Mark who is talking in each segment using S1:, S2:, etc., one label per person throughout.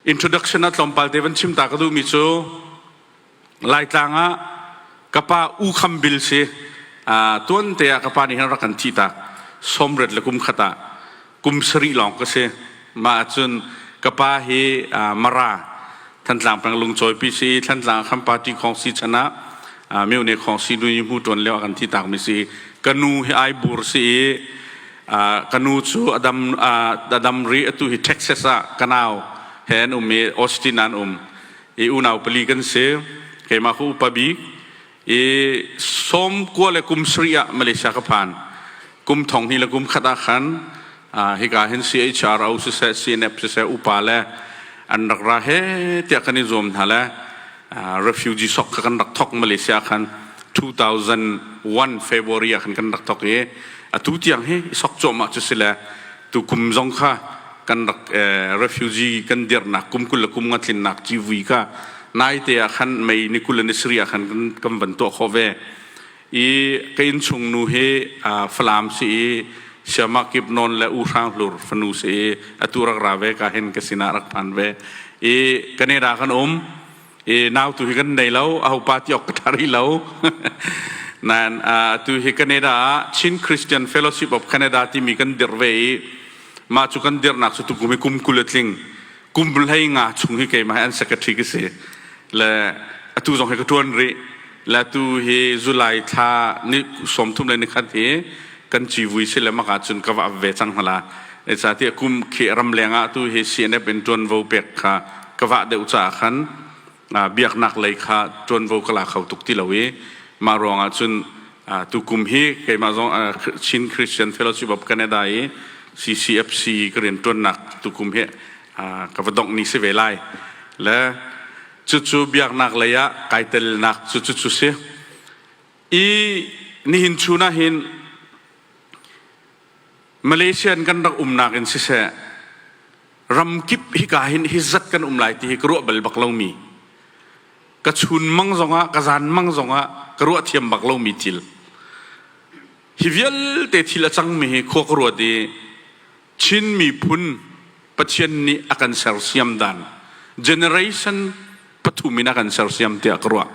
S1: Introduction ah tlawmpal te van chim ta ka duhmi cu Laitlang ah ka pa U Kham Bil si uh, tuan te ah ka pa nih hin rak kan thih ta somret le kum khat ah kum sarih lawng ka si mah cun ka pa hi uh, Mara Thantlang pang lungcawi pi si Thantlang khan party khong si chan ah uh, myo ne khong si nu hmu tuan leo kan thi tak mi si ka nu hi ai bur si i ka nu cu a dam a dam rih atu hi Texas ah ka nau he an um i Austin an um i unau pali kan si keimah cu upa bik i sawm kua le kum sarih ah Malaysia ka phan kum thong hnih le kum khat ah khan hika hin CHR au siseh CNF siseh upa le an rak ra he tiah kan i zuam hna le refugee sok kha kan rak thok Malaysia khan 2001 February ah khan kan rak thok i atu tiang hi sok cuahmah cu si le tu kum zong kha kan rak refugee kan dirnak kum kul le kum nga tlinnak civui kha naite ah khan mei ni kul le ni sari ah khan kan van tuah khawh ve I ka innchung nu hi Falam si i siama kip nawn le u hrang hlur fanu si i atu rak ra ve ka hen ka sinah rak phan ve i Canada kan um i nau tu hi kan nei lo a hopa ti ok ka tar i lo nan tu hi Canada ah Chin Christian Fellowship of Canada timi kan dir ve i mah cu kan dirnak cu tu kum i kum kul a tling kum hlei nga chung hi keimah an secretary ka si le atu zong hi ka tuan rih le tu hi July thla ni sawmthum le ni khat hi kan civui si le maka cun ka va ve cang hala e sa ti kum khi ram leng ah tu hi CNF in tuan vo pek kha ka va deuh ca khan biaknak lei kha ṭuanvo ka la kho tuk ti lo i mah ruangah cun tukum hi keimah zong Chin Christian Fellowship of Canada i CCFC ka rianṭuannak tukum hi ka va dongh ni si ve lai le cucu biaknak lei ah kai telnak cucu cu si i nihin chun ah hin Malaysia in kan rak umnak in siseh, ramkip hika hin hi zat kan um lai ti hi ka ruah bal bak lomi, ka chun mang zongah, ka zan mang zongah ka ruah thiam bak lomi thil. Hi vialte thil a cangmi hi khua ka ruat i Chin miphun Pathian nih a kan sersiam dan generation pathum in a kan sersiam tiah ka ruah.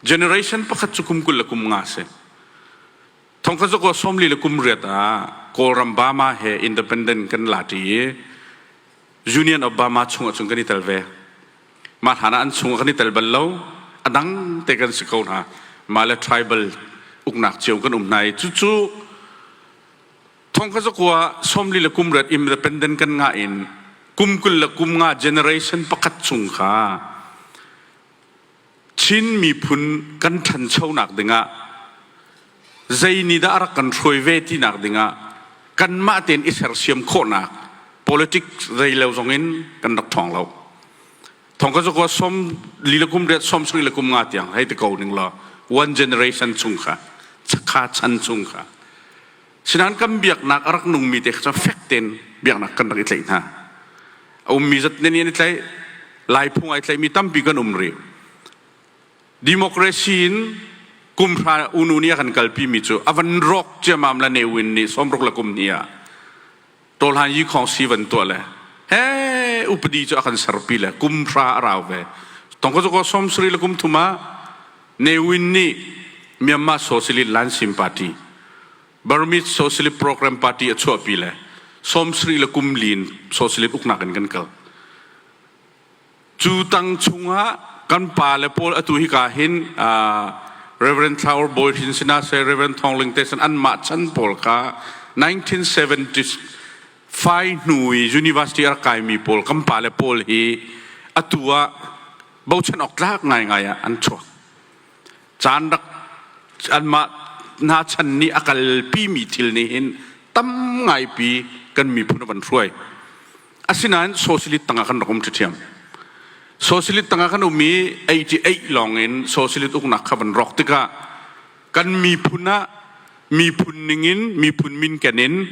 S1: Generation pakhat cu kum kul le kum nga a si. Thongkhat cu sawmli le kum riat ah Kawlram Bama he independent kan la ṭi i Union of Bama chungah cun kan i tel ve. Mah hlan ah an chungah kan i tel bal lo. A dang te kan si ko hna. Mah le tribal uknak cio kan um hna i cucu thongkhat kua sawmli le kum riat independent kan ngah in kum kul le kum nga generation pakhat chung kha Chin miphun kan ṭhanchonak dingah zeinihdah a rak kan hruai ve tinak dingah kanmah tein i sersiam khawhnak politics rei lo zongin kan rak ṭhawng lo. Thongka cu kuwa som lila kum riat som sang lila kum nga tiang hei ti ko ning law one generation chung kha chakha chan chung kha Sinan kan biaknak a rak nungmi te kha fek tein biaknak kan rak i tlaih hna. A ummi zat nen i an i tlaih, laiphung ai tlaihmi tampi kan um rih. Democracy in kumhra unu nih a kan kalpimi cu a van rawk ciamam le neuin nih sawmruk le kum hnih ah Tawlhan yi khawng si van tuah le he upadi cu a kan serpi le kum hra a rau ve tongkazuko somsri le kum thuma newin nih Myanmar Socialist Lansim Party Burmese Socialist Program Party a chuahpi le somsri le kum lin socialist uknak in kan kal Cu tang chungah kan pa le pawl atu hika hin Reverend Thlour Bawi Hrin sinah sui Reverend Thawng Ling Tesan anmah chan pawl kha 1975 hnu i university a rak kaimi pawl kan pa le pawl hi atu ah bochan awk tlak ngaingai ah an chuak. Caan rak anmah hna chan nih a kalpimi thil nih hin tam ngaipi kan miphun a van hruai. Asinain socialist tangah kan rak um ṭhiṭhiam. Socialist tangah kan um i 88 lawngin socialist uknak kha van rawk tikah kan miphun ah miphun ningin miphun min kenin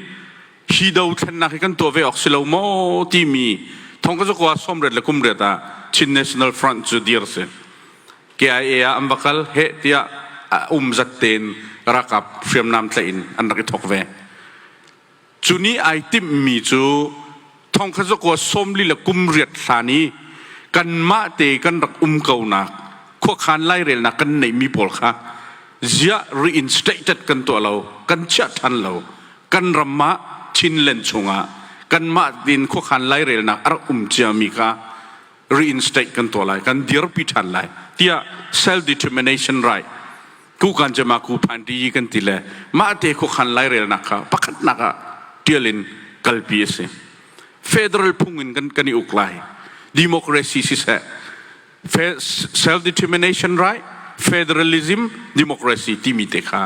S1: hi dothlennak hi kan tuah ve awk si lo maw timi thong ka zakua somret le kumret ah Chin National Front cu dir si KIA ah an va kal he tiah um zat tein rakap hriamnam tlaih in an rak i thok ve cu ni ai timhmi cu thongkhat zakua sawmli le kum riat hlan i kanmah te kan rak um konak khuakhan lairelnak kan neihmi pawl kha ziah reinstated kan tuah lo kan chiah ṭhan lo kan ram ah chinlen chungah kanmah din khuakhan lairelnak a rak um ciami kha reinstate kan tuah lai kan dirpi ṭhan lai tiah self determination right tukan cema ku phan ti kan ti le mah te khuakhan lairelnak kha pakhatnak ah tial in kalpi a si federal phung in kan kan i uk lai democracy siseh self determination right federalism democracy timi te kha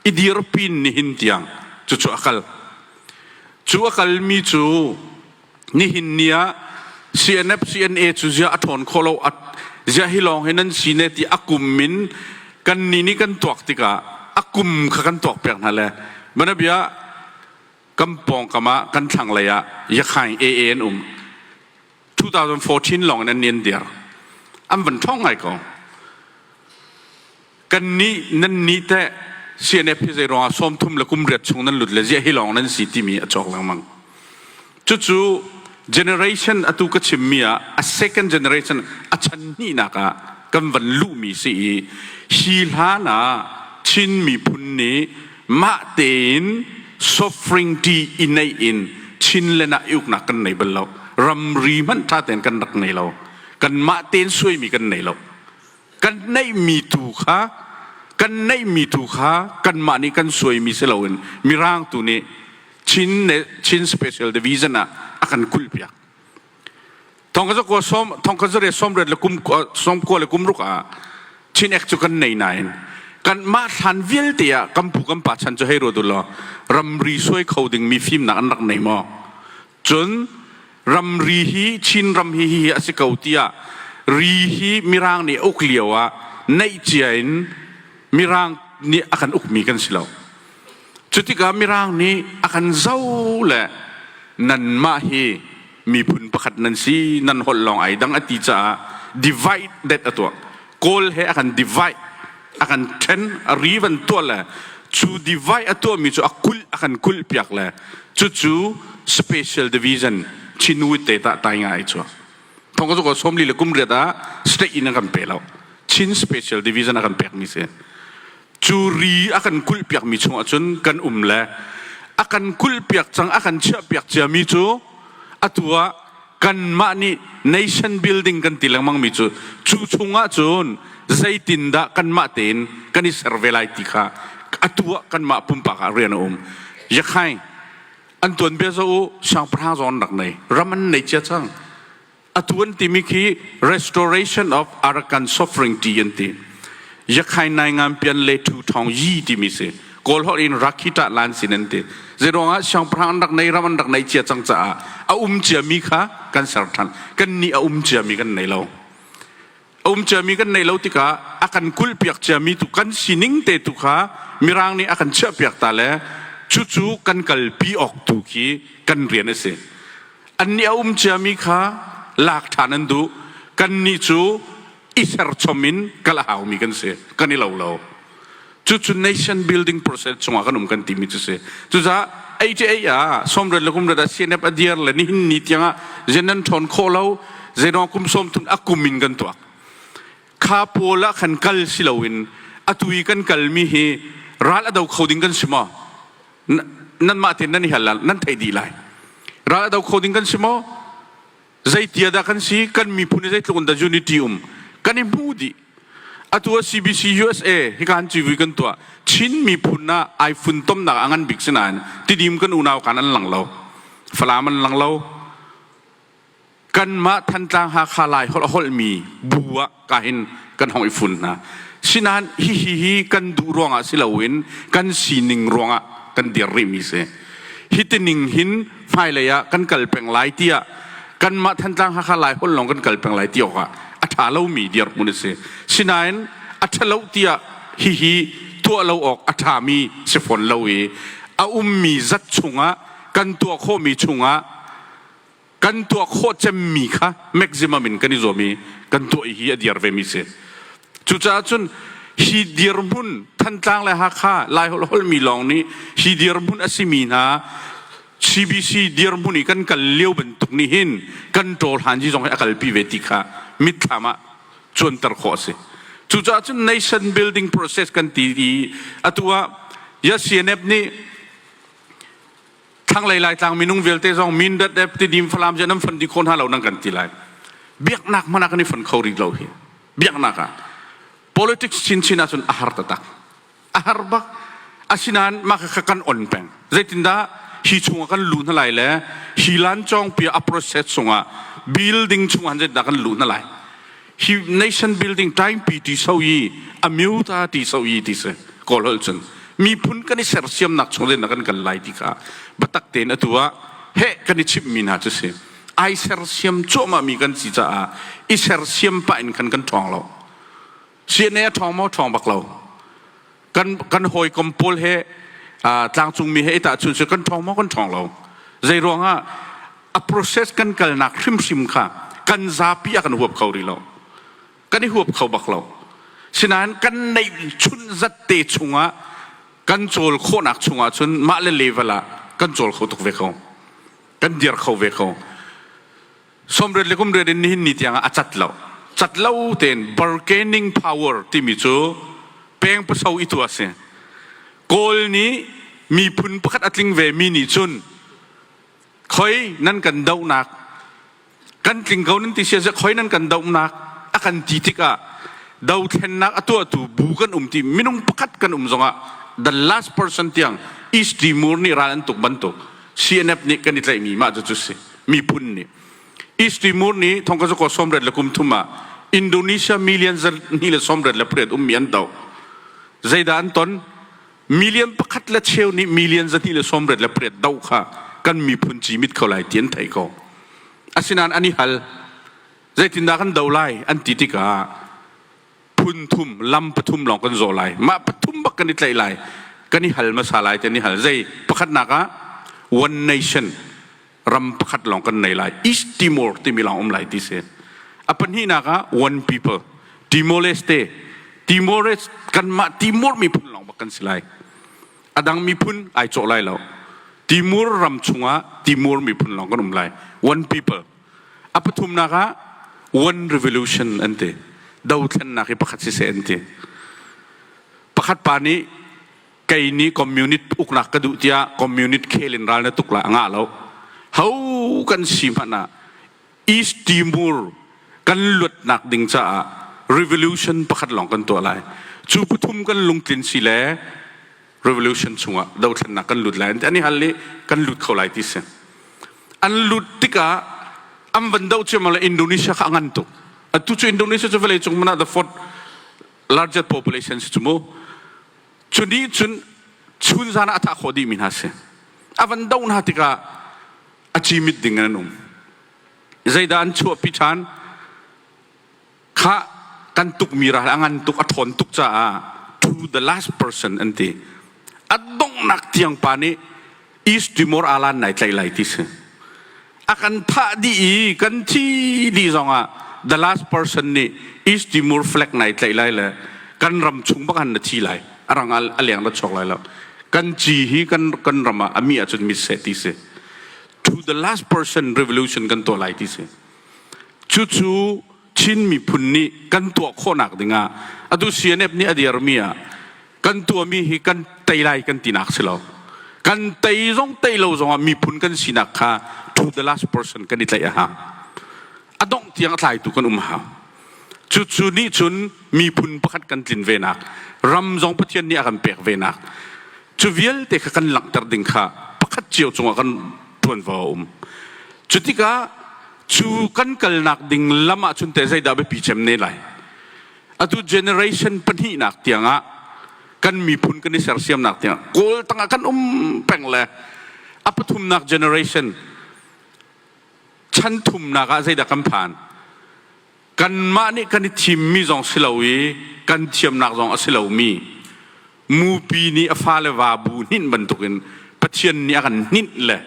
S1: i dirpin nihin tiang cu cu akal cu akal mi cu nihin ni ah CNF CNA cu zia a ṭhawn khawh lo zia hi lawng hi nan si ne ti a kum min kan ni nih kan tuak tikah a kum kha kan tuak piak hna le mana bia kan pawngkam ah kan thlanglei ah yakhaing AA an um 2014 lawng in an nian diar an van ṭhawng ngai ko kannih nan nih teh CNF hi zeiruangah sawmthum le kum riat chung nan lut le ziah hi lawng nan si timi a cawk lengmang. Cucu generation atu ka chimmi ah a second generation a chanhnihnak ah kan van luhmi si i hi hlan ah Chin miphun nih mah tein suffering ṭi i neih in Chinland ah i uknak kan nei bal lo. Ramri hmanh ṭha tein kan rak nei lo. Kan mah tein suaimi kan nei lo. kan neihmi tu kha kan neihmi tu kha kanmah nih kan suaimi si loin mirang tu nih chin ne chin special division ah a kan kulhpiak thongkaza ko som thongkaza re somret le kum somko le kum ruk ah chin ek chu kan nei nain kan mah thlan vialte ah kampu kampa chan chu hei ro du law ramri suai kho ding mi fim nak an rak nei maw cun ramri hi Chin ram hi hi a si ko tiah ri hi Mirang nih a uk lio ah neih cia in Mirang nih a kan ukmi kan si lo cu tikah Mirang nih a kan zoh le nanmah hi miphun pakhat nan si nan holh lawng ai dang a ti caah divide det a tuah kawl he a kan divide a kan then a rivan tual le cu divide a tuahmi cu a kulh a kan kulh piak le cucu special division chinui te ta tai ngai cu thong ko ko somli le kum riat ah state in a kan pe lo chin special division a kan pek mi si cu ri a kan kulh piak mi chung ahcun kan um le a kan kulh piak cang a kan chiah piak cia mi cu atu ah kanmah nih nation building kan ti lengmangmi cu cu chungah cun zeitindah kanmah tein kan i ser ve lai ti kha atu ah kanmah pumpak ah rian a um yakhai an tuan bia zo u siangpahrang zawn rak nei ram an nei cia cang atu an timi khi restoration of arakan suffering ti an ti yakhai nai ngan pian le thu thong yi timi si kawl holh in rakhiṭah lan sin an ti zeiruangah siangpahrang an rak nei ram an rak nei cia cang caah a um ciami kha kan ser ṭhan kan nih a um ciami kan nei lo a um ciami kan nei lo tikah a kan kulhpiak ciami tu kan sining te tu kha mirang nih a kan chiahpiak ta le cucu kan kalpi awk tu khi kan rian a si an nih a um ciami kha lak ṭhan an duh kan nih cu i serchom in kal a haumi kan si kan i lo lo cucu nation building process chungah kan um kan timi cu si cucaah AJA ah somret le kumret ah CNF a diar le nihin ni tiangah zenan ṭhawn khawh lo zeno kum somthun akum in kan tuak kha pawl ah khan kal si loin atui kan kalmi hi ral ado kho ding kan si maw nan mah tin nan i hal nan thei di lai ral ado kho ding kan si maw Zeiti ah dah kan si? Kan miphun hi zeitluk in dah unity um kan i hmu dih. Atu ah CBC USA hikan civui kan tuah. Chin miphun ah ai funtomnak a ngan bik si nain tidim kan unau kan an lang lo. Falam an lang lo. Kanmah Thantlang Hakha lai holh holmi bu ah ka in kan hong i fun hna sinain hihi hi kan duh ruangah si loin kan sining ruangah kan dir rihmi si hi tining hin hmailei ah kan kal peng lai tiah kanmah thantlang hakha lai hol lawng kan kal peng lai ti awkah a ṭha lomi dirhmun a si sinain a ṭhalo tiah hihi tuah lo awk a ṭhami si fawn lo i a ummi zat chungah kan tuah khawhmi chungah kan tuah khawh cemmi kha maximum in kan i zuam i kan tuah hi a dir vemi si cucaah cun hi dirhmun thantlang le hakha laiholholmi holmi lawng nih hi dirhmun a simi hna CBC dirhmun i kan kal lio bantuk nih hin kan ṭawl hanji zong hi a kalpi ve ti kha mitthlam ah cuanter khawh a si cucaah cun nation building process kan ti i atu ah ya CNF nih thlanglei laitlang minung vialte zong Mindat eh Tidim Falam je nan fon di kho hna lo nan kan ti lai biaknak hmana kan i fon kho rih lo hi biaknak ah politics chinchin ahcun a har tatak a har bak asinain mah kha kan on peng zeitindah hi chungah kan lu hna lai le hi lan chong pia a process chungah building chungah hanzetdah kan lu hna lai hi nation building taimpi ti so i a myu ta ti so i ti si kawl hol cun miphun kan i sersiamnak chung in kan kal lai ti kha batak tein atu ah he kan i chimmi hna cu si ai sersiam cuahmah mi kan si caah i sersiam pah in kan kan ṭhawng lo CNA a ṭhawng maw ṭhawng bak lo kan kan hawikom pawl he tlangcungmi he itah chun cu kan ṭhawng maw kan ṭhawng lo zei ruangah a process kan kalnak hrimhrim kha kan zapi ah kan huap kho rih lo kan i huap kho bak lo sinain kan neih chun zat te chungah kan cawl khawhnak chungah cun mah le level ah kan cawl kho tuk ve ko kan dir kho ve ko somret le kumret in nihin ni tiang ah a cat lo cat lo tein bargaining power timi cu pengpaso i tu a si kawl nih miphun pakhat a tling ve mi nih cun khoi nan kan dohnak kan tling ko nan ti siase khoi nan kan dohnak a kan ti tikah dothlennak a tuahtu bu kan um ti minung pakhat kan um zongah the last person tiang is timur nih ral an tuk bantuk CNF nih kan i tlaihmi mah cu cu si miphun nih East Timur nih thongka zuko sawmret le kum thum ah Indonesia million zarhni le sawmret le pariat ummi an doh zeidah an ton million pakhat le cheu nih million zarhni le sawmret le pariat doh kha kan miphun cimit kho lai ti an thei ko asinain an i hal zeitindah kan do lai an ti tikah phun thum, lam pathum lawng kan zawh lai. Mah pathum bak kan i tlaih lai. Kan i hal hmasa lai tiah ni hal. Zei? Pakhatnak ah, one nation, ram pakhat lawng kan nei lai. East Timor timi lawng um lai ti si. A pahnihnak ah, one people, Timor-Leste. Timor, kanmah Timor miphun lawng bak kan si lai. A dang miphun ai cawh lai lo. Timur ram chungah Timor miphun lawng kan um lai. One people, A pathumnak ah one revolution an ti. Dothlennak hi pakhat siseh an ti. Pakhat pa nih kei nih communist uknak ka duh tiah communist khel in ral na tuk la a ngah lo. Ho kan si hmanh ah East Timor kan luatnak ding caah revolution pakhat lawng kan tuah lai. Cu pathum kan lungtlin si le revolution chungah dothlennak kan lut lai an i hal i kan lut kho lai ti si an lut tikah an van doh ciammam le Indonesia kha a ngan tuk atu cu Indonesia cu vawlei cung man ah the fourth largest population si cu mu cu nih cun chun zan ah a thah khawh dih mi hna si a van doh hna tikah a cimit ding in an um zeidah an chuahpi ṭhan Khah kan tukmi ral a ngan tuk a ṭhawn tuk caah to the last person an ti. A donghnak tiang pa nih East Timor alan nai tlaih lai ti si. A kan thah dih i kan thi dih zongah the last person nih East Timor flag nai tlaih lai le kan ram chung bak han na thi lai. A rang a leng ra chok lai lo. Kan ci hi kan kan ram ah a mi ahcun mitseh ti si. To the last person revolution kan tuah lai ti si. Cucu Chin miphun nih kan tuah khawhnak dingah atu CNF nih a dirmi ah kan tuahmi hi kan tei lai kan tinak si lo. Kan tei zong tei lo zongah miphun kan sinak kha to the last person kan i tlaih a hau. A dongh tiang a tlaitu kan um hau. Cucu nih cun miphun pakhat kan tlin venak, ram zong Pathian nih a kan pek venak, cu vialte kha kan langhter ding kha pakhat cio cungah kan ṭuanvo a um. Cu tikah cu kan kalnak ding lam ah cun teh zeidah biapi cem ne lai? Atu generation pahnihnak tiangah kan miphun kan i sersiamnak tiangah Kawl tangah kan um peng le a pathumnak generation chan thumnak ah zeidah kan phan kanmah nih kan i thimmi zong si lo i kan thiamnak zong a si lomi mupi nih a fale va bu hninh bantukin pathian nih a kan hninh le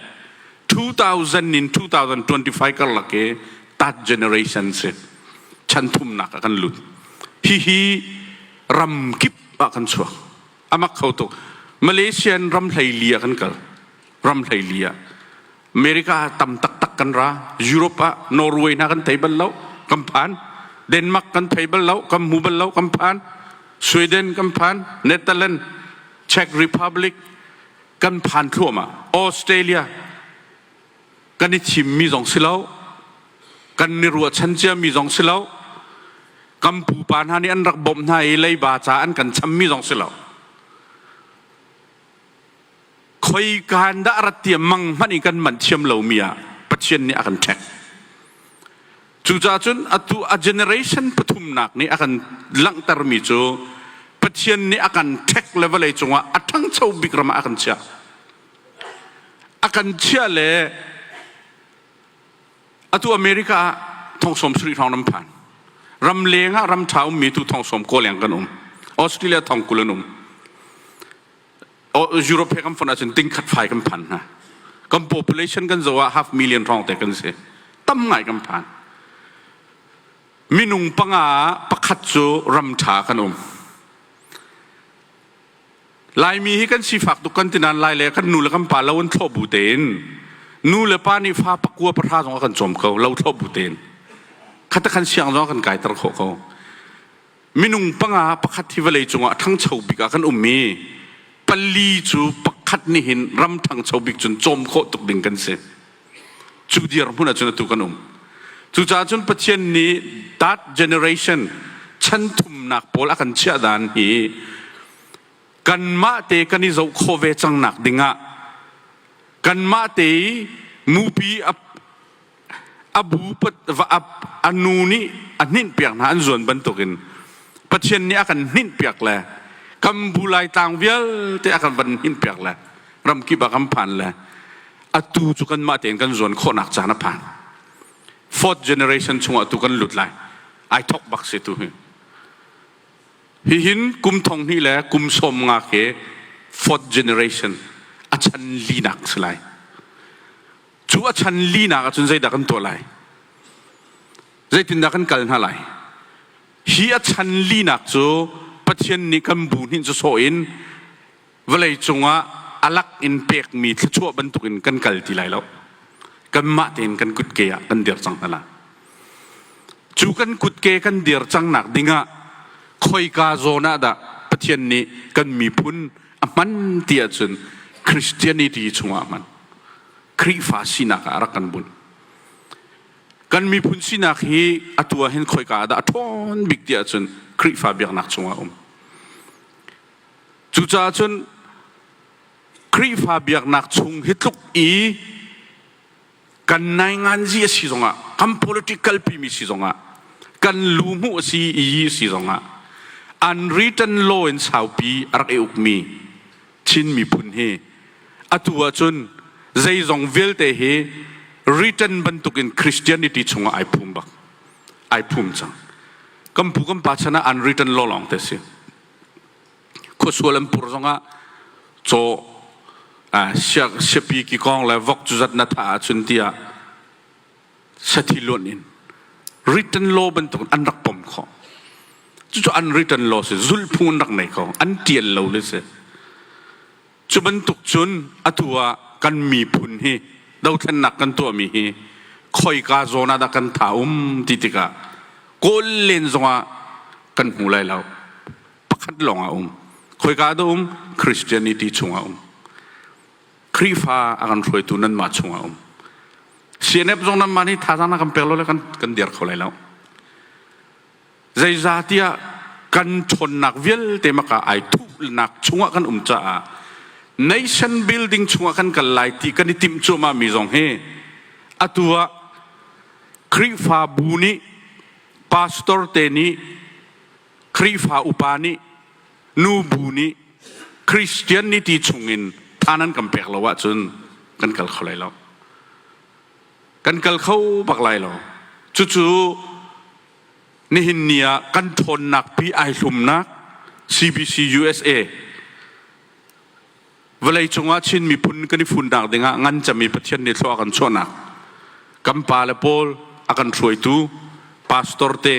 S1: 2000 in 2025 karlak i that generation si chan thumnak ah kan lut hihi ram kip ah kan chuak amak kho tuk malaysian ram hleili ah kan kal ram hleili ah America ah tam taktak kan ra. Europe ah Norway na kan thei bal lo, kan phan. Denmark kan thei bal lo, kan mu bal lo, kan phan. Sweden kan phan, Netherlands, Czech Republic kan phan thluahmah. Australia kan i thim mi zong si lo, kan ni ruahchan cia mi zong si lo, kan pupa hna nih an rak bawmh hna i leiba ca an kan cham mi zong si lo. Khoikaan dah rat tiah mang hmanh in kan manh thiam lomi ah Pathian nih a kan ṭhek. Cucaah cun atu a generation pathumnak nih a kan langhtermi cu Pathian nih a kan ṭhek le vawlei cungah a ṭhangcho bik ram ah a kan chiah. A kan chiah le atu america ah thongsawm sarih hrawng ram phan ram leng ah ram ṭha ummi tu thongsawm kaw leng kan um australia thong kul an um europe he kan fon ahcun tingkhat fai kan phan hna kan population kan zo ah half million hrawng te kan si tam ngai kan phan minung panga pakhat cu ram ṭha kan um Laimi hi kan sifak tuk kan ti nain lai le kan nu le kan pa lo in thlawh bu tein nu le pa nih fa pakua pahra zong a kan cawm ko lo thlawh bu tein khatak kan siang zong a kan kaiter khawh ko minung panga pakhat hi vawlei cungah ṭhangcho bik ah kan um i pali cu pakhat nih hin ram ṭhangcho bik cun cawm khawh tuk ding kan si cu dirhmun ahcun atu kan um cucaah cun Pathian nih that generation chan thumnak pawl a kan chiah dan hi kanmah te kan i zoh khawh ve cang nak dingah kanmah te i mupi a, a bu a nu nih a hninh piak hna an zuan bantukin Pathian nih a kan hninh piak le kan bu lai tlang vialte a kan van hninh piak le ram kip a kan phan le atu cu kanmah tein kan zuan khawhnak caan a phan fourth generation chungah tu kan lut lai ai thok bak se tu hi Hihin kum thong hnih le kum sawm nga khi fourth generation a chan linak si lai. Cu a chan linak ahcun zeidah kan tuah lai? Zeitindah kan kal hna lai? Hi a chan linak cu Pathian nih kan bu hnin cu sawh in vawlei cungah a lak in pekmi thluachuah bantukin kan kal ti lai lo kanmah tein kan kutke ah kan dir cang hna la cu kan kutke kan dir cangnak dingah khoika zawn ah dah pathian nih kan miphun a hman ti ahcun christianity chungah a hman khrihfa sinak ah rak kan bunh kan miphun sinak hi atu ah hin khoika ah dah a ṭhawn bik ti ahcun khrihfa biaknak chungah a um Cucaah cun Khrihfa biaknak chung hi tluk i kan nainganzi a si zongah, kan political kalpimi si zongah, kan luhmu a si i si zongah, unwritten law in saupi a rak i ukmi Chin miphun hi atu ahcun zeizong vialte hi written bantukin Christianity chungah ai phum bak, ai phum cang. Kan pu kan pa chan ah unwritten law lawng te a si. Khuasual an pur zongah caw siapi ki kong le vok cu zat na thah ahcun tiah sathi luan in written law bantuk an rak pom khawh cucu unwritten law si zulhphung in rak nei kho an tial lo le si Cu bantuk cun atu ah kan miphun hi dothlennak kan tuahmi hi khoika zawn ah dah kan tha um ti tikah kawl len zongah kan hmu lai lo. Pakhat lawng a um. Khoika dah um? Christianity chungah um. Khrihfa a kan hruaitu nanmah chungah um. CNF zong nanmah nih thazaang na kan pek lo le kan, kan dir kho lai lo. zeizatiah kan ṭhawnnak vialte mak ah ai thuhnak chungah kan um caah nation building chungah kan kal lai ti kan i timh cuahmahmi zong hi atu ah Khrihfabu nih pastor te nih Khrihfa upa nih nu bu nih Christian nih ti chungin than an kan pek lo ahcun kan kal kho lai lo. kan kal kho bak lai lo cucu nihin ni ah kan thawnnak pi ai hlumnak CBC USA vawlei cungah Chin miphun kan i funnak dingah ngan cami Pathian nih thlua kan chuahnak kan pa le paul a kan hruaitu pastor te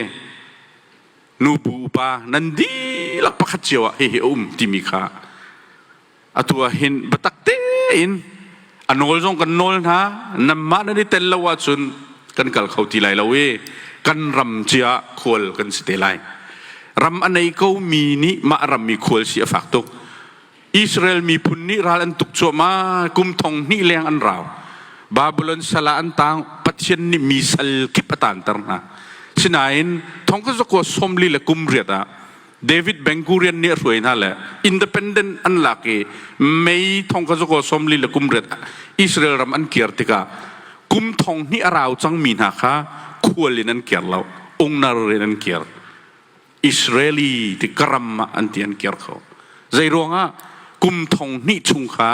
S1: nu pu upa nan dihlak pakhat cio ah hihi a um timi kha atu ah hin biatak tein a nawl zong kan nawl hna nanmah nan i tel lo ahcun kan kal kho ti lai lo i kan ram cia khual kan si te lai ram a nei ko mi nih mah ram mi khual si a fak tuk Israel miphun nih ral an tuk cuahmah kum thong hnih leng an rau Babylon sala an tang Pathian nih mi sal kip a tan ter hna sinain thong ka zakwa somli le kum riat ah David Bengkurian nih a hruai hna le independent an lak i May thong kha zaw sawmli le kum riat Israel ram an kir tikah kum thong hnih a rau cangmi hna kha khual in an kir lo, ungnar in an kir. Israeli ti karam ah an ti an kir kho. Zei ruangah kum thong hnih chung kha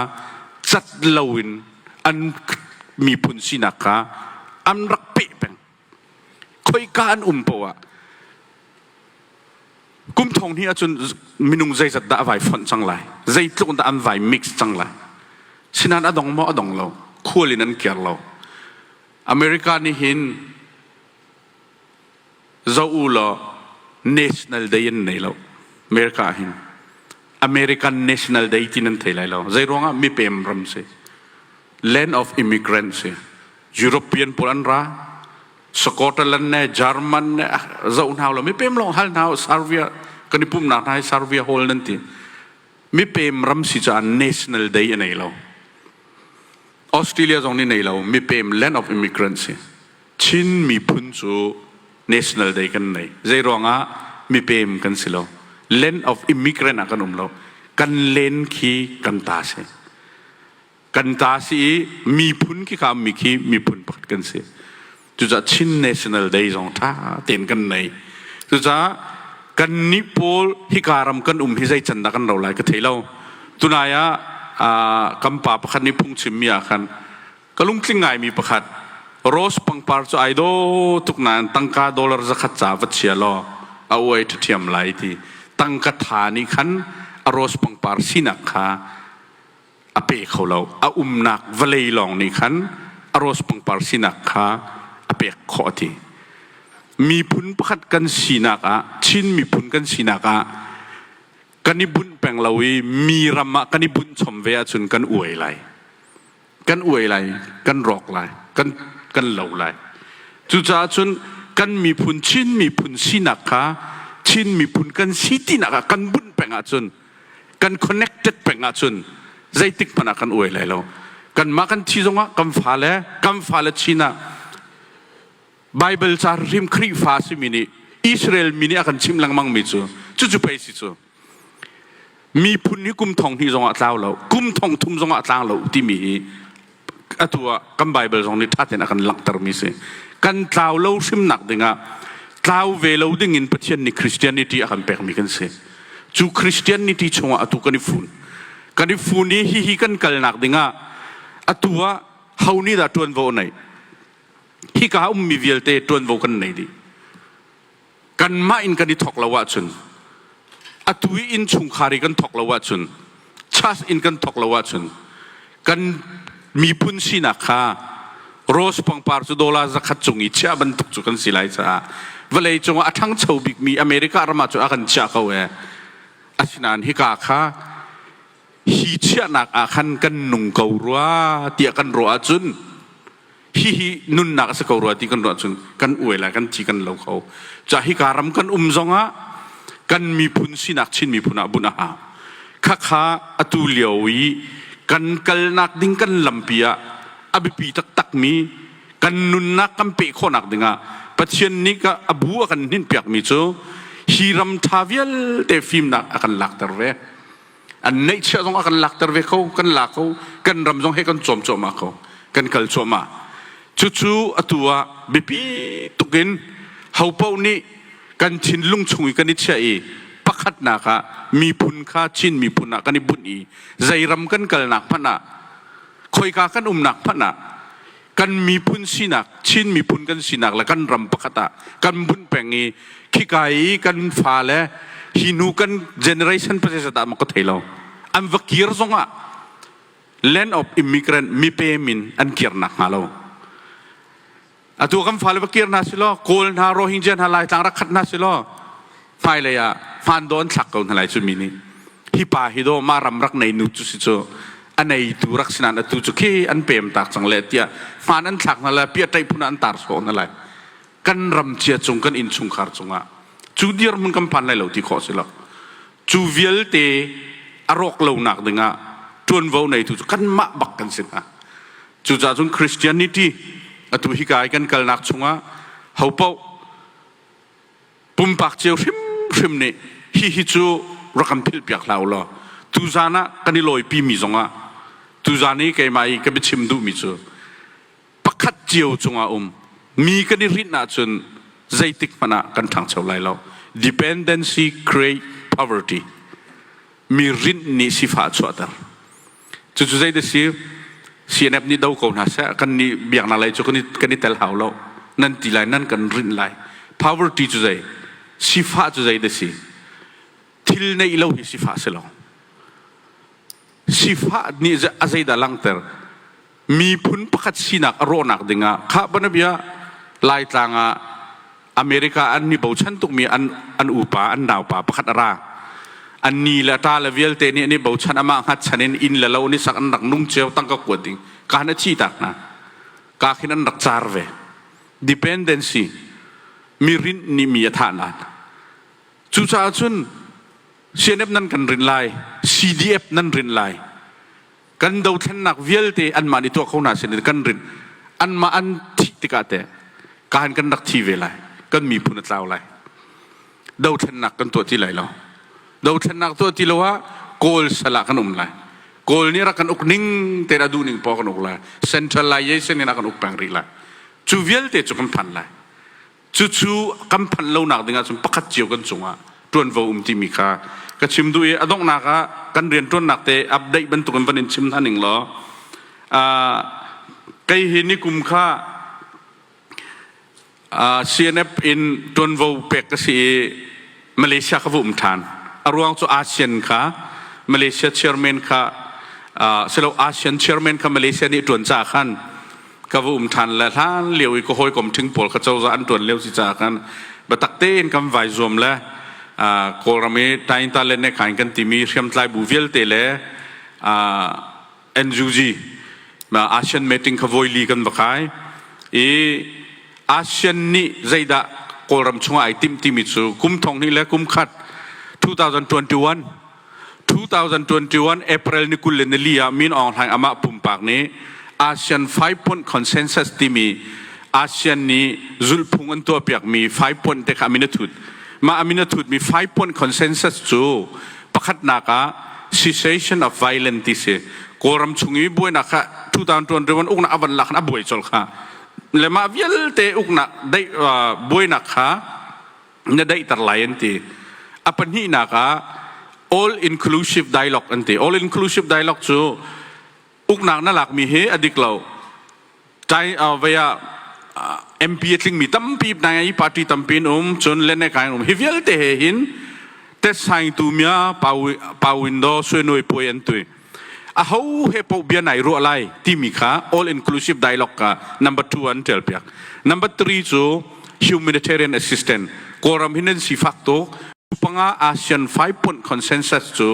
S1: cat loin an miphun sinak kha an rak peh peng. khoika an um poah kum thong hnih ahcun minung zeizat dah a vai fonh cang lai zeitluk dah an vai mix cang lai sinan a dong maw a dong lo khual in an kir lo america nih hin zo u law national day an nei lo america hin american national day ti nan thei lai lo zei ruangah mi pem ram si land of immigrants hi European pawl an ra Scotland ne German ne zoh hna lo mi pem long hal hna Serbia kan i pum na hna Serbia hol nan ti mi pem ram si ca national day anei lo Australia zong nih nei lo mi pem land of immigrants hi Chin miphun cu national day kan nei zei ruangah mi pem kan si lo land of immigrant ah kan um lo kan len khi kan ta si kan ta si i miphun khi kha mi khi miphun pakhat kan si cucaah Chin National Day zong ṭha tein kan nei cucaah kan nih pawl hika ram kan um hi zei can dah kan ro lai ka thei lo tunai ah kan pa pakhat nih phungchimmi ah khan ka lungtling ngaimi pakhat rose pangpar cu ai do tuk nain tangka dollar zakhat ca va chia law a uai ṭhathiam lai ti tangka tha nih khan a rose pangpar sinak kha a pe kho lo. A umnak vawlei lawng nih khan a rose pangpar sinak kha a pek khawh a ti. Miphun pakhat kan sinak ah, Chin miphun kan sinak ah, kan i bunh peng lo i mi ram ah kan i bunh chom ve ahcun kan uai lai. Kan uai lai, kan rawk lai, kan, kan lo lai. Cucaah cun kan miphun Chin miphun sinak kha Chin miphun kan si tinak ah kan bunh peng ahcun kan connected peng ahcun zeitik hmanh ah kan uai lai lo kanmah kan thi zongah kan fale kan fale chin ah Bible ca rim Khrihfa simi nih Israel mi nih a kan chimh lengmang mi cu cucu pei si cu miphun hi kum thong hnih zongah tlau lo kum thong thum zongah tlang lo timi hi atu ah kan Baibal zong nih ṭha tein a kan langhtermi si. Kan tlau lo hrimnak dingah tlau ve lo dingin Pathian nih Christianity a kan pekmi kan si. Cu Christianity chungah atu kan i fun. Kan i fun i hihi kan kalnak dingah atu ah ho nih dah ṭuanvo a neih? Hika ummi vialte ṭuanvo kan nei dih. kanmah in kan i thawk lo ahcun atu i innchungkhar i kan thawk lo ahcun church in kan thawk lo ahcun kan miphun sinak kha rose pangpar cu dollar zakhat cung i chiah bantuk cu kan si lai caah vawlei cungah a ṭhangcho bikmi America ram ah cu a kan chiah ko e asinain hika kha hi chiahnak ah khan kan nung ko rua tiah kan ruah ahcun hihi nunnak a si ko rua ti kan ruah cun kan uai lai kan ci kan lo kho ca hika ram kan um zongah kan miphun sinak chin miphun ah bunh a ha khakha atu lio i kan kalnak ding kan lampi ah a biapi taktakmi kan nunnak kan peh khawhnak dingah Pathian nih a bu a kan hninpiakmi cu hi ram ṭha vialte fimnak a kan lakter ve an neihchiah zong ah kan lakter ve ko kan la ko kan ram zong he kan cawm cuahmah ko kan kal cuahmah cucu atu ah biapi tuk in hopo nih kan thinlung chung i kan i chiah i pakhatnak ah miphun kha Chin miphun ah kan i bunh i zeiram kan kalnak hmanh ah khoika kan umnak hmanh ah kan miphun sinak Chin miphun kan sinak le kan ram pakhat ah kan vun peng i khika i kan fale hi nu kan generation process ah maka thei lo an va kir zongah land of immigrant mipe min an kir nak hnga lo atu kan fale va kir hna silo kawl hna rohingya hna laitlang rak khat hna silo hmailei ah hmaan dawh an thlak ko hna lai cu mi nih hi pa hi daw mah ram rak nei nu cu si cu a neitu rak sinan atu cu khi an pem tak cang le tiah hmaan an thlak hna lai pia ṭaih phun ah an tar sawh hna lai kan ram cia cung kan inn chungkhar cungah cu dir mun kan phan lai lo ti khawh si lo cu vialte a rawk lonak dingah ṭuanvo neitu cu kanmah bak kan si hna cucaah cun Christianity atu hi kai kan kalnak chungah hopoh pumpak cio hrimhrim nih hihi cu rak kan philhpiak hlah u law tuzan ah kan i lawipimi zongah tuzan i keimah i ka biachim duhmi cu pakhat cio cungah um mi kan i hrinh ahcun zeitik hmanh ah kan ṭhangcho lai lo dependency create poverty mi rinh nih sifah a chuahter Cucu zeidah si? CNF nih do ko hna seh, kan nih biaknak lei cu kan i, kan i tel hau lo. Nan ti lai, nan kan rinh lai. Poverty cu zei? Sifah cu zeidah si? Thil neih lo hi sifah si lo. Sifah nih a zeidah langhter? miphun pakhat sinak a rawhnak dingah khah banabia Laitlang ah America an mi bochan tukmi an an upa an naupa pakhat a ra an ni le ta le vialte nih an i bochan amah hngatchan in inn le lo nih sak an rak nung cio tangka kuat ding ka han a chi tak hna ka khin an rak car ve dependency mi rint nih mi a thah nan cucaah cun CNF nan kan rin lai CDF nan rin lai kan dothlennak vialte anmah nih tuah kho hna sin in kan rinh anmah an thih tikah teh kaan kan rak thi ve lai kan miphun a tlau lai dothlennak kan tuah ti lai lo dothlennak tuah ti lo ah kawl sal ah kan um lai kawl nih rak kan uk ning te a duh ning pa kan uk lai centralization in a kan uk peng rih lai cu vialte cu kan phan lai Cucu kan phanh lonak ding ahcun pakhat cio kan cungah ṭuanvo um timi kha ka chim duh i a donghnak ah kan rianṭuannak te update bantukin van in chim hna ning law uh, kei hi nikum kha uh, CNF in ṭuanvo pek ka si i Malaysia kha va um ṭhan. A ruang cu ASEAN kha Malaysia chairman kha silo ASEAN chairman kha Malaysia nih ṭuan caah khan ka va um ṭhan le hlan lio i ka hawikom ṭhing pawl kha cozah an ṭuan lio si caah khan biatak tein kan vai zuam le Kawlram i Tainta le Nekhain kan timi hriamtlai bu vialte le NUG ASEAN meeting kha voi li kan va kai i ASEAN nih zeidah Kawlram chungah ai timh timi cu kum thong hnih le kum khat 2021 2021 April ni kul le nili ah Min Aung Hlaing amah pumpak nih ASEAN 5 point consensus timi ASEAN nih zulhphung an tuahpiakmi 5 point te kha amin a thut mah amin a thutmi 5 point consensus cu Pakhatnak ah cessation of violence ti si. Kawlram chung i buainak kha 2021 uknak a van lak in a buai colh kha le mah vialte uknak daih buainak kha na daihter lai an ti. A pahnihnak ah all inclusive dialogue an ti. All inclusive dialogue cu uknak na lakmi hi a dik lo tai vai ah MP a tlingmi tampi hna i party tampi an um cun lene kai an um hi vialte he hin tet saing tu mia pa window suenoi puai an tui a ho he po bia nai ruah lai timi kha all inclusive dialogue ka number 2 an tel piak number 3 cu humanitarian assistance kawram hin an sifak to panga ASEAN 5 point consensus cu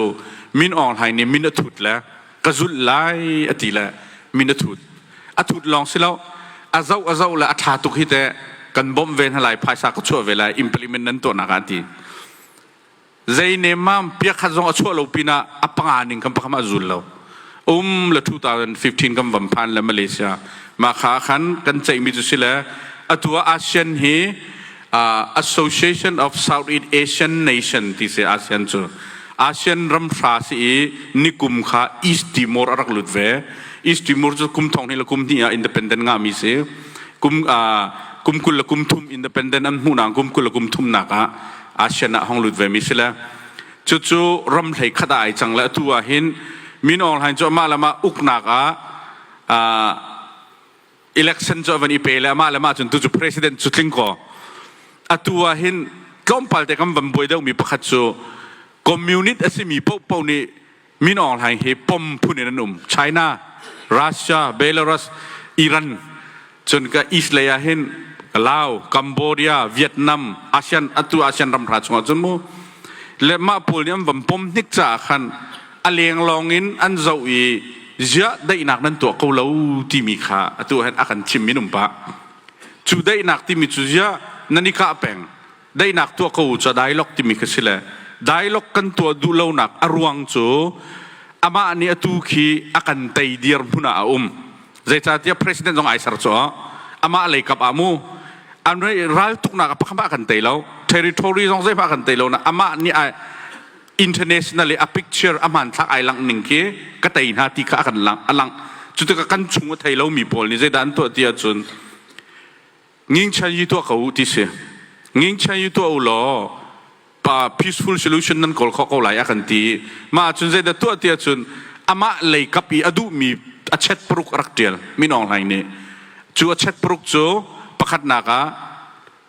S1: min ong hai ni min a thut le ka zulh lai a ti le min a thut a thut lawng si lo a zoh a zoh le a ṭha tuk hi teh kan bawmh ve hna lai phaisa ka chuah ve lai implement nan tuahnak ah an ti zei nem ma piakhat zong a chuah lo pin ah a panga ning kan pakam a zul lo um le 2015 kan van phan le Malaysia ma kha khan kan ceihmi cu si le atu ah ASEAN hi Association of Southeast Asian Nation ti si ASEAN cu ASEAN ramhra si i nikum kha East Timor a rak lut ve. East Timor cu kum thong hnih le kum hnih ah independent ngahmi si. Kum, kum kul le kum thum independent an hmuhnak kum kul le kum thumnak ah ASEAN ah hong lut vemi si le. Cucu ram hlei khat ai cang le atu ah hin min aung hlain cu amah lamah uknak ah election cu a van i pe le amah le mah cun tu cu president cu tling kaw atu ah hin tlawmpal te kan van buai deuhmi pakhat cu communist a simi pohpoh nih min awng hlaing hi pom phun in an um China Russia Belarus Iran cun ka east lei ah hin Laos Cambodia Vietnam ASEAN atu ASEAN ram hra chungah cun mu le mah pawl nih an van pom hnik caah khan a leng lawng in an zoh i ziah daihnak nan tuah ko lo timi kha atu hen a kan thim minung pa cu daihnak timi cu ziah nan i kah peng daihnak tuah ko cu dialogue timi kha si le dialogue kan tuah duh lonak a ruang cu amah nih atu khi a kan tei dir hmun ah a um zeicahtiah president zong ai ser cu amah lei kap ah mu an ral tuknak a pakhat a kan tei lo territory zong zeihmah a kan tei lo na amah nih ai international i a picture a hmanthlak ai langh ning khi ka tei hna ti kha a kan lang a lang cu tikah kan chung a thei lomi pawl nih zeidah an tuah ti ahcun ngingchan yi tuah ko u ti si ngingchan yi tuah u law pa peaceful solution nan kawl kho ko lai a kan ti mah ahcun zeidah tuah ti ahcun amah lei kap i a duhmi a chet paruk a rak tial minong hlai nih cu a chet paruk cu pakhatnak ah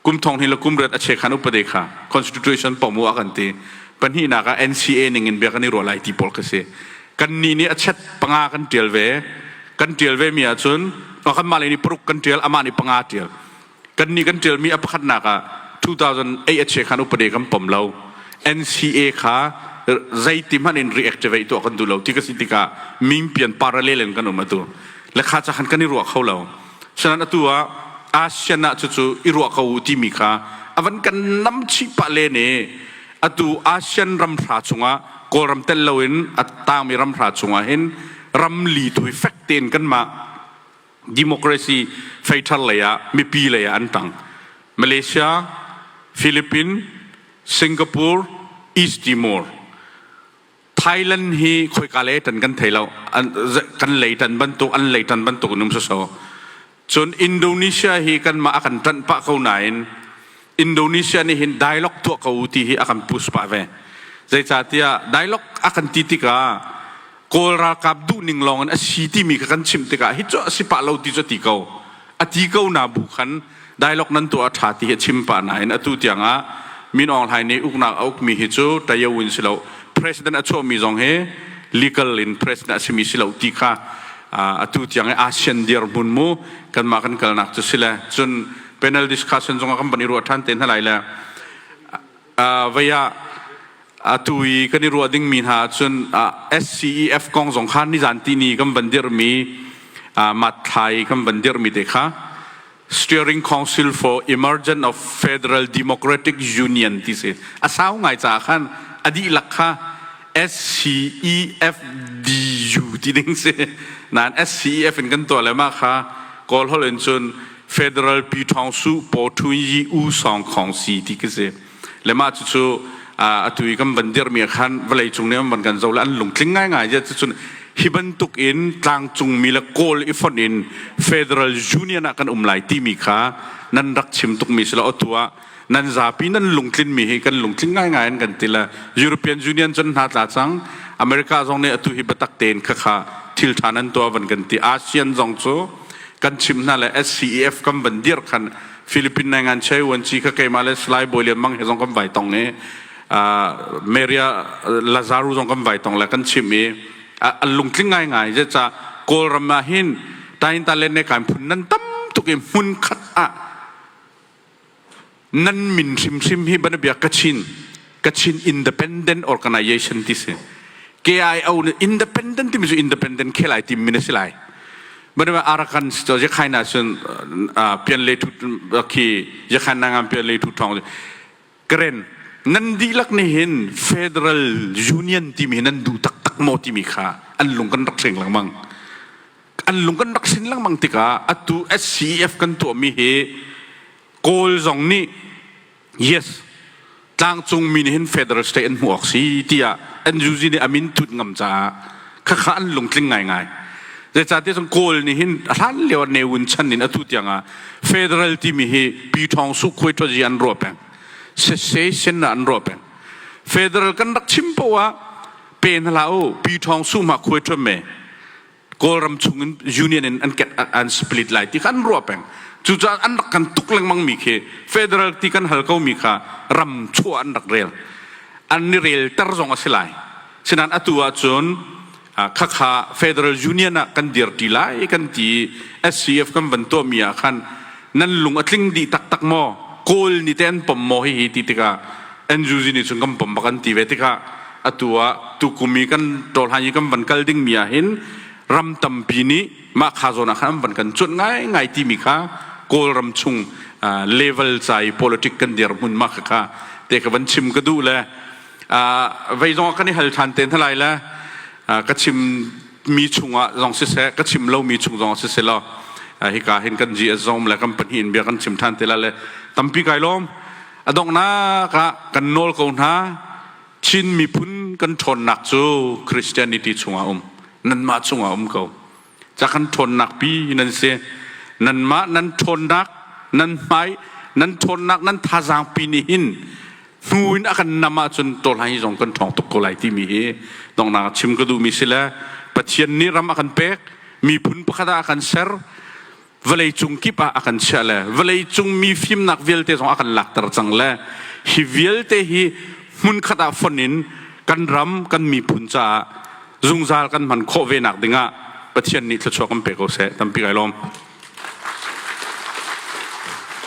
S1: kum thong hnih le kum riat a che khan upade kha constitution pomu a kan ti pahnihnak ah NCA ning in bia kan i ruah lai ti pawl ka si kan ni nih a chet panga kan tial ve kan tial ve mi ahcun kan mah le ni paruk kan tial ama ni panga tial kan ni kan tial mi a pakhatnak ah 2008 a che khan upade kan pom lo NCA kha zeiti hman in reactivate tu kan du lo ti ka si tikah ming pian parallel in kan um atu lekha cha khan kan i ruah kho lo Sena'n atu ah ASEAN ah cucu i ruah ko u timi kha a van kan nam chih pah le nih atu ASEAN ramhra chungah Kawlram tel loin a tangmi ramhra chungah hin ramli thui fek tein kanmah democracy fei thar lei ah mipi lei ah an tang Malaysia Philippines Singapore East Timor Thailand hi khoika le tan kan thei lo kan lei tan bantuk an lei tan bantuk num so cun Indonesia hi kan mah a kan ṭanh pah ko nain Indonesia nih hin dialogue tuah ko ti hi a kan push pah ve zeicahtiah dialogue a kan ti tikah Kawl ralkap duh ning lawng in a si timi ka kan chimh tikah hi cu a si pah lo ti cu ti ko a ti ko na bu khan dialogue nan tuah a ṭha ti hi a chim pah nain atu tiang ah Min Aung Hlaing nih uknak a ukmi hi cu Tayo in si lo president a chuahmi zong hi legal in president a simi si lo ti kha atu tiang i ASEAN dirhmun mu kanmah kan kalnak cu si le cun panel discussion zongah kan van i ruah ṭhan te hna lai le Vai ah atu i kan i ruah dingmi hna ahcun SCEF kong zong kha nizanti ni kan van dirhmi matthlai kan van dirhmi te kha Steering Council for Emergence of Federal Democratic Union ti si a sau ngai caah khan a dihlak kha SCEFDU ti ding si nain SCEF in kan tuah le mah kha kawl holh in cun Federal Pi Ṭhawng Suh Paw Ṭhun Yi U Sawng Khawng Si ti ka si. Le mah cucu atu i kan van dirhmi ah khan vawleicung nih an van kan zoh le an lungtling ngaingai zia cucun hi bantuk in tlangcungmi le kawl i fonh in federal union ah kan um lai timi kha nan rak chim tukmi si lo atu ah nan zapi nan lungtlinmi hi kan lungtling ngaingai in kan ti le European Union cun hna tla cang America zong nih atu hi biatak tein khakha thil ṭha nan tuah van kan ti ASEAN zong cu kan chim hna le SCEF kan van dir khan Philippine nai ngan chei wan chi kha keimah le Salai Bawi Lian Mang he zong kan vai tong ni Maria Lazaro zong kan vai tong le kan chim i a lungtling ngaingai je ca Kawlram ah hin tain ta len ne kan phun nan tam tuk i hmun khat ah nan min hrimhrim hi ban bia kachin kachin independent organization ti si KIO ne independent timi cu independent khelai tim min a si lai bana arakan to je khaina sun pian le thu khi je khaina ngam pian le thu thong Karen, nan dihlak nih hin Federal Union timi hi nan duh taktak maw timi kha an lung kan rak hring lengmang. An lung kan rak hrin lengmang tikah atu SCEF kan tuahmi hi Kawl zong nih yes tlangcungmi nih hin federal state an hmuh awk si tiah NUG nih a min tut ngam caah khakha an lungtling ngaingai zeicahtiah cun kawl nih hin a hlan lio ne wun chan in atu tiang ah federal timi hi pi thawng su khuai thazi an ruah peng session an ruah peng federal kan rak chim po ah pe na la u pi thawng su ma khuai thum me kawlram chung in union in an ket an split lai ti kan ruah peng cucaah an rak kan tuk lengmang mi khi federal ti kan hal ko mi kha ram chuah an rak rel an ni rel ter zong a si lai Sinan atu ahcun khakha Federal Union ah kan dirṭi lai kan ti i SCF kan van tuahmi ah khan nan lung a tling dih taktak maw? Kawl nih teh an pom maw hihi ti tikah NUG nih cun kan pom bak an ti ve tikah atu ah tukum i kan ṭawlhlan i kan van kal dingmi ah hin ram tampi nih mah kha zawn ah khan an van kan cuanh ngaingai timi kha Kawlram chung level ca i politic kan dirhmun mah kha te ka van chim ka duh le Vei zong kan i hal ṭhan te hna lai le ka chim mi chungah zong siseh, ka chim lomi chung zong siseh law hika hin kan GSZOM le kan pahnih in bia kan chim ṭhan te lai le tampi kai lawm. A donghnak ah kan nawl ko hna, Chin miphun kan ṭhawnnak cu Christianity chungah um, nanmah chungah um ko. ca kan ṭhawnnak pi nan si nanmah nan ṭhawnnak nan hmai nan ṭhawnnak nan thazaang pi nih hin hnu in a kan nam ahcun tawlhlan hi zong kan ṭhawng tuk ko lai timi hi dongnang a chim ka duhmi si le Pathian nih ram a kan pek miphun pakhat ah a kan ser vawleicung kip ah a kan chiah le vawleicung mi fimnak vialte zong a kan lakter cang le hi vialte hi hmunkhat ah fon in kan ram kan miphun caah zungzal kan hman khawh ve nak dingah Pathian nih thluachuah kan pe ko seh tampi kai lawm